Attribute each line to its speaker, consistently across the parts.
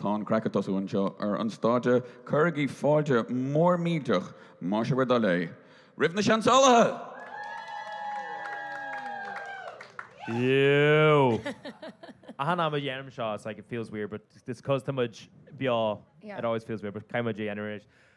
Speaker 1: Tá an craic ag tosú anseo ar an stáitse, cuirigí fáilte mhór millteach, más é bhur dtoil é, roimh na Seansálaithe!
Speaker 2: Eww! Achan am a dhéanaim seo, it's like it feels weird, but it's cos tá muid beo, it always feels weird, but caithfidh muid é anyway.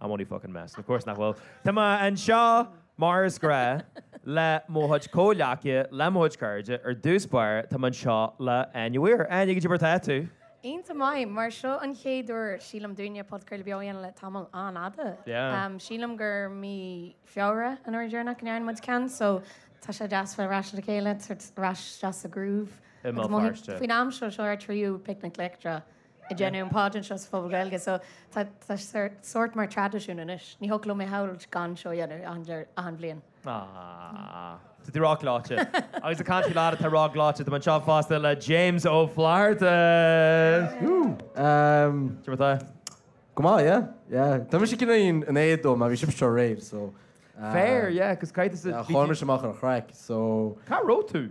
Speaker 2: I'm only fucking messing, of course nach bhfuil. Tá mé anseo, mar is gnách, le mo chuid comhghleacaithe, le mo chuid cairde, ar dtús báire, tá mé anseo le Áine Weir. Áine, goidé mar atá tú. Iontach maith,
Speaker 3: mar seo an chéad uair, sílim, dúinne podchraoladh beo a dhéanamh le tamall an-fhada. Yeah.
Speaker 2: Sílim gur
Speaker 3: mí Feabhra an uair dheireanach a ndearna muid ceann, so tá sé deas bheith ar ais le chéile, ar ais deas sa groove. I mBéal Feirste. Faoin am seo, seo ar tríú Picnic Leictreach. ag déanamh an poidín seo sa Phuball Gaeilge so tá tá sé sórt mar traidisiún anois. Ní thiocfadh liom é a shamhailt gan seo a dhéanamh achan dear achan bhliain. Ah.
Speaker 2: Tá tú róghleoite. Agus ag caint ar lad atá róghleoite, tá mé anseo fosta le James Ó Flaithearta. Whoo! Umm. Seo
Speaker 4: tá. Go maith, yeah. Yeah. Tá mise cineál in éad though mar bhí sibhse anseo aréir so ah. Fair, yeah,
Speaker 2: 'cause cá háit a bhí tú. Chaill mise amach ar an chraic
Speaker 4: so. Cá raibh tú?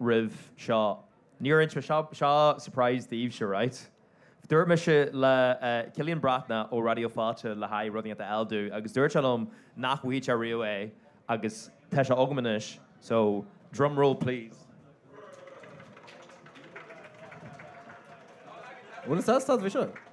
Speaker 2: roimh seo. Níor inis mé seo, seo surprise daoibhse, right? Dúirt mise le Cillian Breatnach ó Raidió Fáilte le haghaidh rud éigin a fháil dó agus dúirt sé liom nach bhfaigheadh sé riamh é agus tá sé agam anois, so, drumroll
Speaker 4: please. Bhfuil fhios agat cad é seo?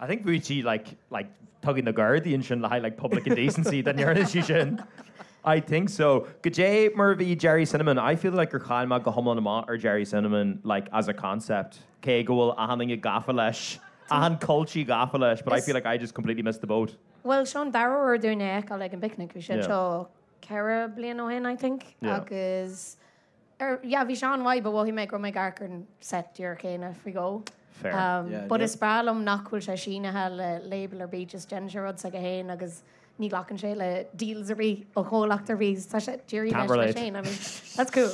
Speaker 4: I think bheadh
Speaker 2: sí like like tugtha do na gardaí ansin le haghaidh like public indecency dá ndearna sí sin I think so. Goidé mar a bhí Gerry Cinnamon? I feel like gur chaill mé go hiomlán amach ar Gerry Cinnamon like as a concept cé go bhfuil achan duine gafa leis, achan culchie gafa leis but I feel like I just completely missed the boat. Bhuel seo an dara uair
Speaker 3: dúinn é a fheiceáil ag an bPicnic, bhí sé anseo ceithre bliana ó shin I think agus Er, yeah, bhí sé an-mhaith, but mhothaigh mé go raibh mé ag amharc ar an set díreach céanna faoi dhó. Fair. Um, Yeah, but yeah. is breá liom nach bhfuil sé sínithe le label ar bith, just déanann sé rud s'aige féin agus ní ghlacann sé le deals ar bith ó chomhlacht ar bith. Tá sé díreach Can't leis leis relate. féin. I
Speaker 2: mean, that's
Speaker 3: cool.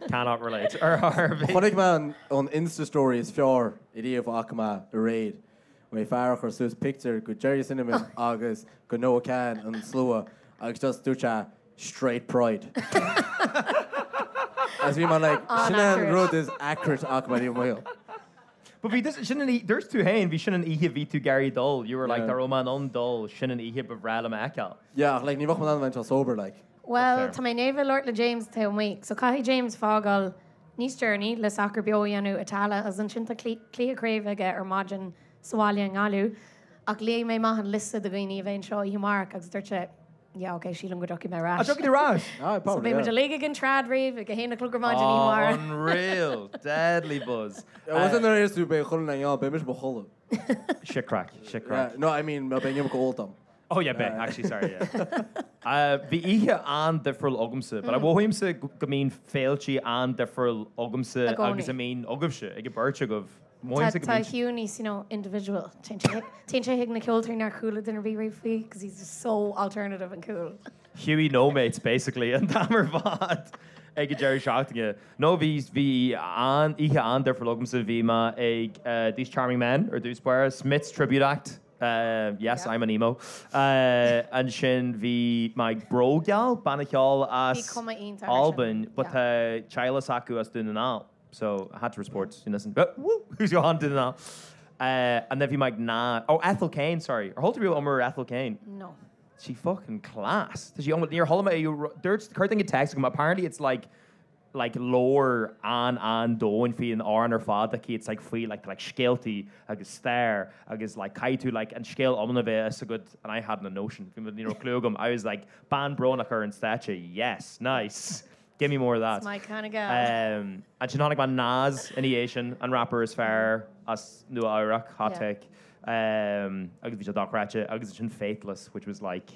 Speaker 2: Cannot relate. Ar RV. Chonaic mé an, an
Speaker 4: Insta story is fearr ariamh a chonaic mé aréir. Bhí fear a chuir suas pictiúr de Gerry Cinnamon agus de Noah Kahan an slua agus just dúirt sé Straight pride. agus bhí mé like sin an An-accurate. rud is accurate a chonaic mé le mo shaol. But
Speaker 2: bhí this sin an oíche, dúirt tú féin, bhí sin an oíche a bhí tú ag iarraidh dul, you were like Yeah. dá raibh mé in ann dul, sin an oíche ba bhreá liom a fheiceáil. Yeah ach like ní bheadh mé in ann a
Speaker 4: bheith anseo sober like. Bhuel, tá mé i ndiaidh
Speaker 3: labhairt
Speaker 2: le
Speaker 3: James taobh amuigh, so caithfidh James fágáil níos deireanaí le Sacar Beo a dhéanamh i Tallaght agus ansin tá cluiche craoibhe aige ar maidin sa bhaile i nGaillimh. Ach léigh mé amach an liosta de dhaoine a bheidh anseo oíche amárach agus dúirt sé, Yeah, ok, sílim go dtiocfaidh mé ar ais. Tiocfaidh tú ar ais?
Speaker 2: Aye, probably. So beidh muid
Speaker 3: uilig
Speaker 4: ag an
Speaker 3: trad
Speaker 4: rave
Speaker 3: ag a haon a chlog ar maidin oíche amárach. Oh,
Speaker 2: unreal. Deadly buzz. Yeah, wasn't there is to
Speaker 4: be codladh, yeah, beidh mise i mo chodladh. Shit craic,
Speaker 2: shit craic. Yeah, no, I
Speaker 4: mean, beidh neamh go leor dom. Oh yeah, beh,
Speaker 2: actually, sorry, yeah. Bhí oíche an-difriúil agamsa, but mothaímse go mbíonn féilte an-difriúil agamsa i gcónaí agus a
Speaker 3: bhíonn agaibhse,
Speaker 2: ag an bheirt agaibh. Mothaímse go mbíonn.
Speaker 3: Tá Hugh níos,
Speaker 2: you know,
Speaker 3: individual. Téann sé téann sé chuig na ceoltóirí nár chuala duine ar bith riamh faoi because he's just so alternative and cool. Hughie no
Speaker 2: mates basically an t-am ar fad ag an deireadh seachtaine. No, bhí bhí an-oíche an-difriúil agamsa. Bhí mé ag eh, These Charming Men ar dtús báire, Smiths Tribute Act. Ahh yes I'm an emo. Ahh ansin bhí mé ag Brògeal, banna ceoil
Speaker 3: as Albain but tá
Speaker 2: teaghlaigh acu as Dún na nGall so I had to support you listen whoo who's your aunt Dún na nGall ahh and then bhí mé ag na oh Ethel Kane sorry ar chuala tú riamh iomrá ar Ethel Kane? No. She's
Speaker 3: fucking
Speaker 2: class. Tá sí um níor chuala mé a dúirt chuir duine text chugam apparently it's like like lore an- an-domhain faoin amhrán ar fad like it's like faoi like like scéaltaí agus stair agus like caithfidh tú like an scéal iomlán a bheith a fhios agat and I had no notion bhí mé ní raibh cliú agam I was like bean brónach ar an stáitse yes nice give me more of that That's my kind of gal
Speaker 3: um ansin
Speaker 2: chonaic mé Nas ina dhiaidh sin an rapper is fearr as Nua Eabhrac hot yeah take um agus bhí sé dochreidte agus ansin Faithless which was like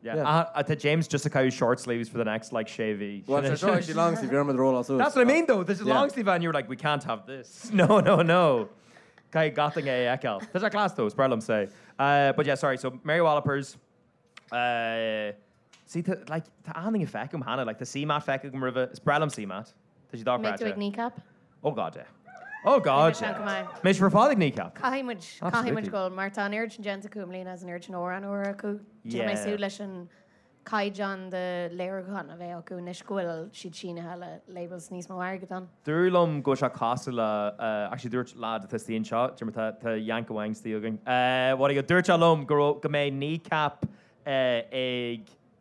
Speaker 3: Yeah, aha, a tá
Speaker 2: James just a caitheamh short sleeves for the next like sé mhí. Well, sure, sure, actually long
Speaker 4: sleeve, iarraimid roll-on suit. That's what I mean though, this is Yeah. long
Speaker 2: sleeve and you were like, we
Speaker 4: can't
Speaker 2: have this. No, no, no. Caithfidh gach duine é a fheiceáil. Tá sé class though, is breá liom sé. Uh, but yeah, sorry, so Mary Wallopers, uh, see, tá, like, tá aon duine feicim cheana, like, tá CMAT feicim agam roimhe, is breá liom CMAT. Tá sí dochreidte. An mbeidh
Speaker 3: tú ag Kneecap?
Speaker 2: Oh God, yeah. Oh
Speaker 3: God,
Speaker 2: yeah. Go maith. Beimid
Speaker 3: ar fad
Speaker 2: ag Kneecap. Caithfidh muid, caithfidh
Speaker 3: muid dhul, mar tá
Speaker 2: an oiread sin
Speaker 3: déanta acu i mbliana is an oiread sin amhrán úr acu. Tá mé ag súil leis an caighdeán de léiriúchán a bheidh acu anois go bhfuil siad sínithe le labels níos mó airgid ann. Dúradh liom go bhfuil
Speaker 2: sé cosúil le, actually dúirt lad atá thuas staighre anseo, deir mé tá Yank amháin thuas staighre againn, what do you, dúirt sé liom go raibh, go mbeidh Kneecap ag,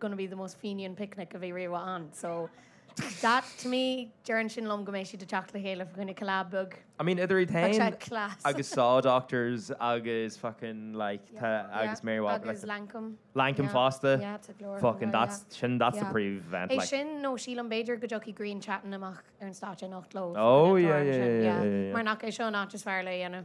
Speaker 3: gonna be the most Fenian picnic a bhí riamh ann. So that to me, deireann sin liom go mbeidh siad ag teacht le chéile fá choinne collab beag. I mean idir iad Tá sé
Speaker 2: féin class. agus Saw
Speaker 3: Doctors
Speaker 2: agus fucking like the Yeah, agus Mary Wallopers agus like
Speaker 3: Lankum. Lankum Yeah, fosta.
Speaker 2: yeah, tá go leor Fucking
Speaker 3: ann, that's yeah.
Speaker 2: sin that's the Yeah. pre event É like. sin nó
Speaker 3: sílim b'fhéidir go dtiocfaidh Grian Chatten amach ar an stáitse anocht leo. Oh, yeah, yeah, yeah, yeah,
Speaker 2: yeah. Mar nach é seo an áit
Speaker 3: is fearr lena dhéanamh.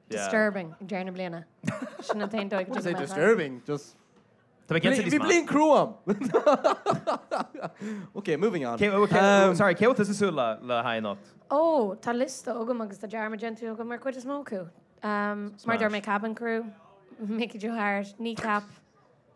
Speaker 2: Disturbing ag
Speaker 3: deireadh na bliana. Sin an t-aon dóigh go dtugaim amach
Speaker 4: air. Tá mé déanta leis
Speaker 2: mar. Bhí bliain chrua
Speaker 4: ann. Ok, moving on. Sorry, cé leis a bhfuil
Speaker 2: tusa ag súil le haghaidh anocht? Ó, tá
Speaker 3: liosta agam agus tá dearmad déanta agam ar an chuid is mó acu. Mar a deir mé, Kabin Crew, Mickey Joe Harte, Kneecap.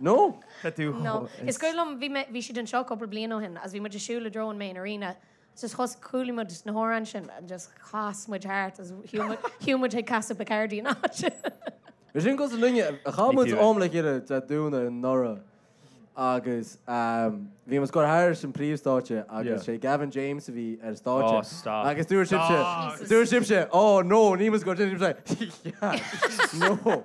Speaker 4: No, tá tú chomh. No,
Speaker 3: is cuimhin liom, bhí mé, bhí siad anseo cúpla bliain ó shin agus bhí muid ag siúl i dtreo an main arena agus just chas, chuala muid na hamhráin sin and just chas muid thart agus shiúl muid, shiúl muid chuig Casa Bacardi an áit sin. Bhí sin
Speaker 4: cosúil linne, chaith muid Níl tú- am le chéile Dé Domhnaigh anuraidh agus um, bhí mise ag gabháil thairis an príomhstáitse Yeah. agus sé Gavin James a bhí ar Oh, stáitse. stop. Agus
Speaker 2: dúirt sibhse, Jesus.
Speaker 4: dúirt sibhse, oh no níl mise ag gabháil ansin sibhse. No.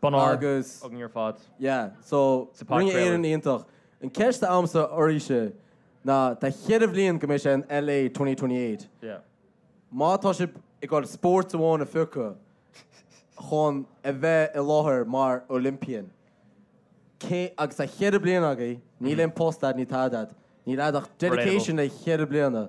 Speaker 2: Bonn óir Agus, againn
Speaker 4: ar fad.
Speaker 2: yeah,
Speaker 4: so, Sa Rinne podchraoladh. Éireann iontach. An cheist atá agamsa oraibhse ná, tá cheithre bhliain go mbeidh sé in LA 2028. Yeah.
Speaker 2: Má tá
Speaker 4: sibh ag goil spóirt amháin a phiocadh chun a bheith i láthair mar Olympian, cé, agus tá cheithre bliana agaibh, níl aon post agat, níl tada agat, níl a'd ach dedication le cheithre bliana.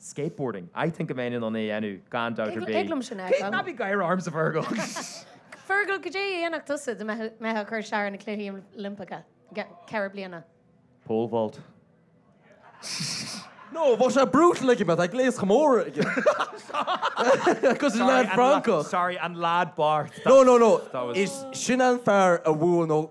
Speaker 2: skateboarding. I think go mbeinn in ann é a dhéanamh gan dabht ar bith. Thig liom sin a fheiceáil. Ná bí
Speaker 3: ag gáire
Speaker 2: ormsa, Fergal!
Speaker 3: Fergal, cad é a dhéanfadh tusa dá mbeifeá ag cur sear ar na Cluichí Oilimpeacha ceithre bliana? Pole vault.
Speaker 4: No, bhí sé brutal le mo ghléas chomh mór cosúil leis an lad Francach. Sorry an lad
Speaker 2: bocht. No, no, no.
Speaker 4: Is
Speaker 2: sin an fear
Speaker 4: a bhuail nó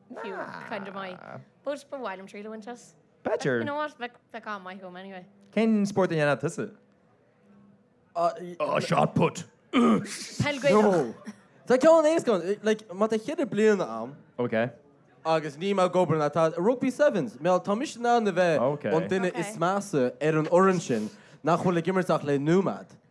Speaker 3: Fiú kind of maith. B'fhúilt, ba mhaith liom
Speaker 2: triail a bhaint as. B'fheidir. You know
Speaker 5: what, bheadh, bheadh gá maith uaim
Speaker 3: anyway. Cén spórt a dhéanfadh tusa? Ahh
Speaker 4: shot put. Peil Gaelach. No. Tá ceann éasca ann, like, má tá cheithre bliana a'm.
Speaker 2: Ok. agus níl
Speaker 4: mé ag obair ná tada, rugby sevens, má tá mise in ann a bheith an duine is
Speaker 2: measa
Speaker 4: ar
Speaker 3: an
Speaker 4: fhoireann sin nach bhfuil ag imirt ach le nóiméad.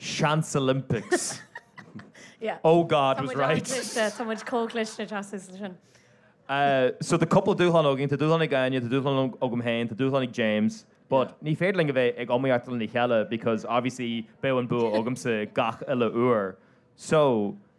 Speaker 2: Seansolympics.
Speaker 3: Yeah. Oh God Tá was
Speaker 2: muid right. an-chliste, tá muid chomh
Speaker 3: cliste trasna sa sin. Uh,
Speaker 2: so tá cúpla dúshlán againn, tá dúshlán ag Áine, tá dúshlán ag- agam féin, tá dúshlán ag James, but ní féidir linn a bheith ag iomaíocht lena chéile because obviously bheadh an bua agamsa gach uile uair. So,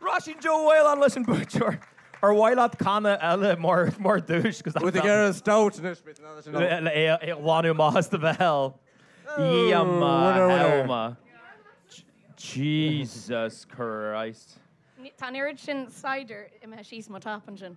Speaker 2: Róisín Joe Whelan leis an buaiteoir. Ar mhaith leat canna eile mar duais? Bhí tú ag ól stout anois bhí tú
Speaker 4: in ann leis an obair. le é a
Speaker 2: ghlanadh amach as do bhéal. Iamma Iamma. Jesus Christ. Tá an oiread
Speaker 3: sin cider imithe síos mo top ansin.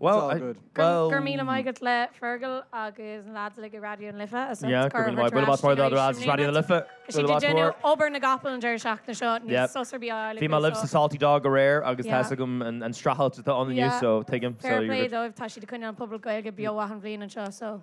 Speaker 2: Well, I, well... Go raibh
Speaker 3: míle maith agat le Fergal agus na lads uilig i Raidió na Life a sult. Yeah, go raibh míle maith. Bualadh
Speaker 2: bos mór do na lads as Raidió na Life. Is iad ag déanamh
Speaker 3: obair na gcapall an deireadh seachtaine seo, níl sos ar bith á fháil acu. Bhí mé libh sa Salty Dog
Speaker 2: aréir agus tá fhios agam an streachailt atá ann inniu so tuigim. Fair play dóibh, tá siad ag
Speaker 3: coinneáil an Puball Gaeilge beo achan bhliain anseo so.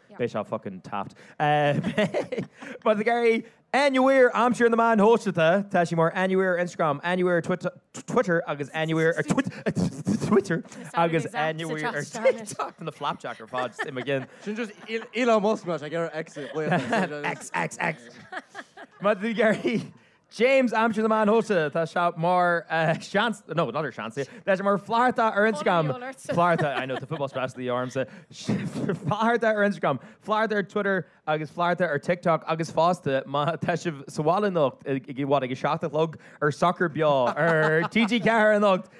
Speaker 2: Beidh seo fucking daft. Má tá tú ag iarraidh Anywhere a aimsiú ar na meáin shóisialta, tá sí mar Anywhere ar Instagram, Anywhere ar Twitter agus Anywhere ar Twitter agus Anywhere ar TikTok. Tá na flapjack ar fad i mo cheann. Sin just Elon
Speaker 4: Musk mar seo ag iarraidh X a
Speaker 2: ghlaoch. X, X, X. Má tá tú ag iarraidh James a aimsiú ar na meáin shóisialta, tá seo mar sheans, no, not ar seans é, tá sé mar flathartha ar Instagram, Funny alert. flathartha, I know, tá football specialty ormsa, flathartha ar Instagram, flathartha ar Twitter agus flathartha ar TikTok agus fosta má tá sibh sa bhaile anocht i i bhfad ag a seacht a chlog ar Sacar Beo ar TG4 anocht,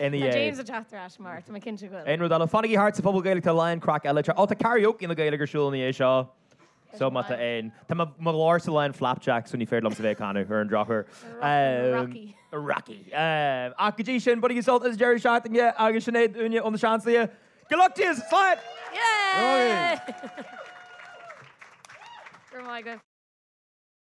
Speaker 2: NEA. James ag teacht ar ais
Speaker 3: mar tá mé cinnte go bhfuil. Aon rud eile? Fanaigí thart sa
Speaker 2: Phuball Gaeilge tá a lán craic eile te. Ó tá karaoke na Gaeilge ar siúl i ndiaidh seo. So má tá aon. Tá mo mo ghlórsa lán flapjacks so ní féidir liomsa bheith ag canadh ar an drochuair. Rocky. Rocky. Ach go dtí sin bainigí sult as deireadh seachtaine agus sin é uainne ó na Seansálaithe. Good luck to yous! Slán! Yay! Go raibh
Speaker 3: maith
Speaker 2: agat.